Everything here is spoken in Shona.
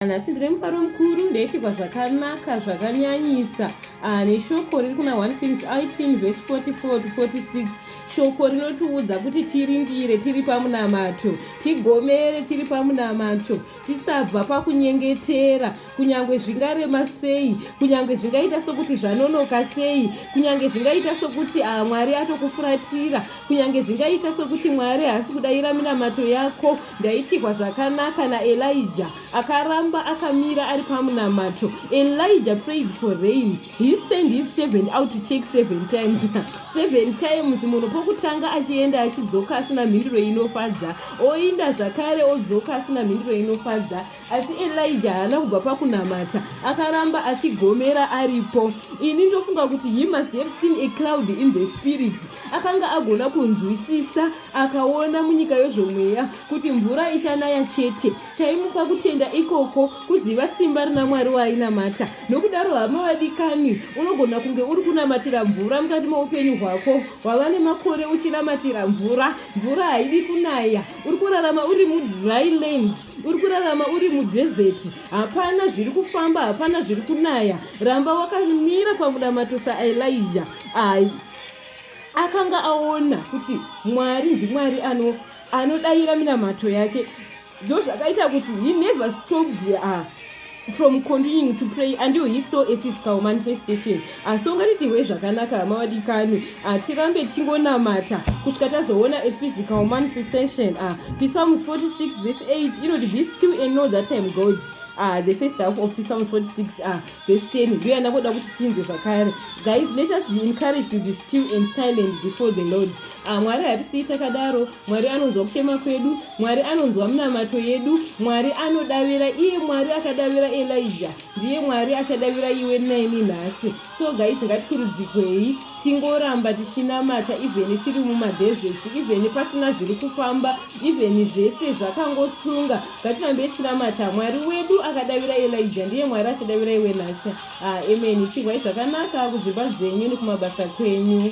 nhasi ndine mufaro mukuru ndaitirwa zvakanaka zvakanyanyisa ah, neshoko riri kuna 1 kings 18 vhesi 44 to 46 shoko rinotiudza kuti tiringire tiri pamunamato tigomere tiri pamunamato tisabva pakunyengetera kunyange zvingarema sei kunyange zvingaita sokuti zvanonoka sei kunyange zvingaita sokuti ah, mwari atokufuratira kunyange zvingaita sokuti mwari haasi kudayira minamato yako Ndaityirwa zvakanaka naElijah. Akaramba akamira ari pamunamato. Elijah prayed for rain. He sent his servant out to check seven times. seven times munhu pokutanga achienda achidzoka asina mhinduro inofadza. Oinda zvakare odzoka asina mhinduro inofadza. Asi Elijah haana kubva pakunamata. Akaramba achigomera aripo. Ini ndofunga kuti he must have seen a cloud in the spirit. Akanga agona kunzwisisa akaona munyika yezvomweya kuti mvura ichanaya chete chaimupa kutenda ikoko kuziva simba rina mwari waainamata nokudaro hama vadikani unogona kunge uri kunamatira mvura mukati moupenyu hwako hwava nemakore uchinamatira mvura mvura haidi kunaya uri kurarama uri mudry land uri kurarama uri mudhezeti hapana zviri kufamba hapana zviri kunaya ramba wakamira pamunamato saelija ai akanga aona kuti mwari ndimwari ano anodayira minamato yake ndo zvakaita kuti he never stopped her ah, from continuing to pray until he saw a physical manifestation asi ungatitirwe zvakanaka hama vadikani hatirambe ah, tichingonamata kusvika tazoona a physical manifestation ah, psalms 46 vese 8 inoti be still and know that im god ah, the first half of psalms 46 ah, Verse 10 ndiyo yandakuda kuti tinzwe zvakare guys let us be encouraged to be still and silent before the lord ah, mwari hatisii takadaro mwari anonzwa kuchema kwedu mwari anonzwa minamato yedu mwari anodavira iye mwari akadavira elija ndiye mwari achadavira iwe naini nhasi so guys ngatikurudzikwei tingoramba tichinamata ivheni tiri mumadhezeti ivheni pasina zviri kufamba ivheni zvese zvakangosunga Ngatirambe tichinamata Mwari wedu akadavira Elijah ndiye Mwari achadavira iwe nhasi. Ah, amen. Chihwai zvakanaka kuzvimba zvenyu nekumabasa kwenyu.